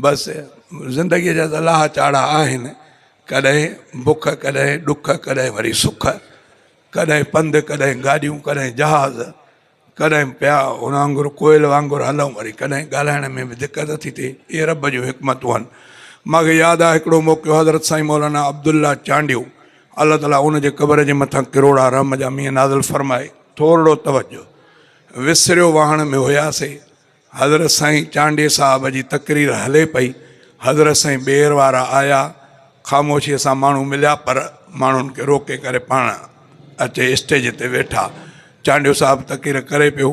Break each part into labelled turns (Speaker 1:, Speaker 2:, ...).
Speaker 1: بس زندگيء جا ته لاهه چاڙها آهن، ڪڏهن بک، ڪڏهن ڏک، ڪڏهن وري سک، ڪڏهن پنڌ، ڪڏهن گاڏيون، ڪڏهن جهاز، ڪڏهن پيا هن وانگر ڪوئل وانگر هلون، وري ڪڏهن ڳالهائڻ ۾ به دقت ٿي ٿئي، اهي رب جون حڪمتون آهن. مان کي ياد آهي هڪڙو موقعو حضرت سائين مولانا عبدالله چانڊيو الله تعاليٰ ان جي قبر جي مٿان ڪروڙها رحم جا مينهن نازل فرمائي. ٿورڙو توجه وسريو واهڻ ۾ هياسي. حضرت سائين چانڊيي صاحب جي تقرير هلي پئي، حضرت سائين ٻيهر وارا آيا، خاموشيء سان ماڻهو مليا پر ماڻهن کي روڪي ڪري پاڻ اچي اسٽيج تي ويٺا. چانڊيو صاحب تقرير ڪري پيو،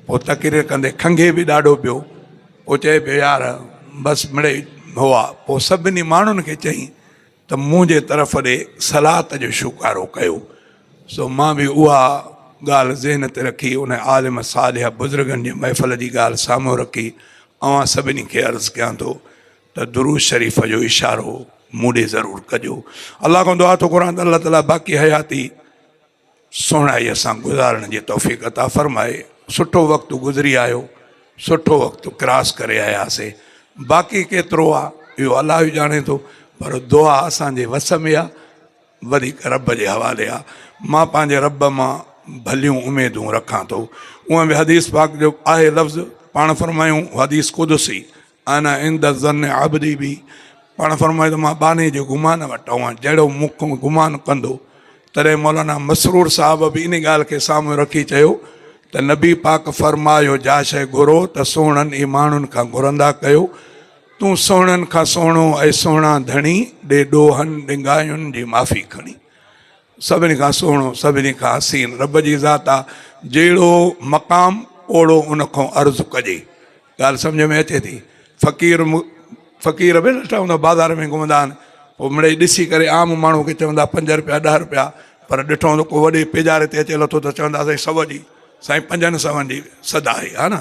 Speaker 1: پوء تقرير ڪندي کنگهي به ڏاڍو پيو، پوء چئي پيو يار بس مڙئي هئا، پوء سڀني ماڻهن کي چئي. ته مون جي طرف ڏي صلات جو شوڪارو ڪيو سو مان به اها ڳالهه ذهن تي رکي ان عالم صالح بزرگن جي محفل جي ڳالهه سامهون رکي اوهان سڀني کي عرض ڪيان ٿو ته درود شريف جو اشارو مون ڏي ضرور ڪجو الله کان دعا ٿو گهران ته الله تعالي باقي حياتي سهڻائيء سان گذارڻ جي توفيق عطا فرمائي. سٺو وقت گذري آيو، سٺو وقت ڪراس ڪري آياسي، باقي ڪيترو آ اهو الله ئي ڄاڻي ٿو، پر دعا اسان جي وس ۾ آ، وڌيڪ رب جي حوالي آ، مان پنهنجي رب مان ڀليون اميدون رکان ٿو. اونئن به حديث پاڪ جو آهي لفظ، پاڻ فرمايون حديث قدسي، انا عند ظن عبدي بي پاڻ فرمائي ٿو مان ٻانهي جي گمان وٽ هئان جهڙو مون کان گمان ڪندو تڏهن مولانا مسرور صاحب به ان ڳالهه کي سامهون رکي چيو ته نبي پاڪ فرمايو جا شيء گهرو ته سهڻن ئي ماڻهن کان گهرندا ڪيو تون سهڻن کان سهڻو ۽ سهڻا ڌڻي ڏي ڏوهن ڏنگاين جي معافي کڻي سڀني کان سهڻو، سڀني کان حسين رب جي ذات آ، جهڙو مقام اوڙو ان کان عرض ڪجي. ڳالهه سمجهه ۾ اچي ٿي؟ فقير فقير به ڏٺا هوندا بازار ۾ گهمندا آهن پوء مڙئي ڏسي ڪري عام ماڻهو کي چوندا پنج رپيا ڏهه رپيا پر ڏٺو هوندو ڪو وڏي پيڄاري تي اچي لٿو ته چوندا سائين سو جي سائين پنجن سون جي سدا آهي ها نه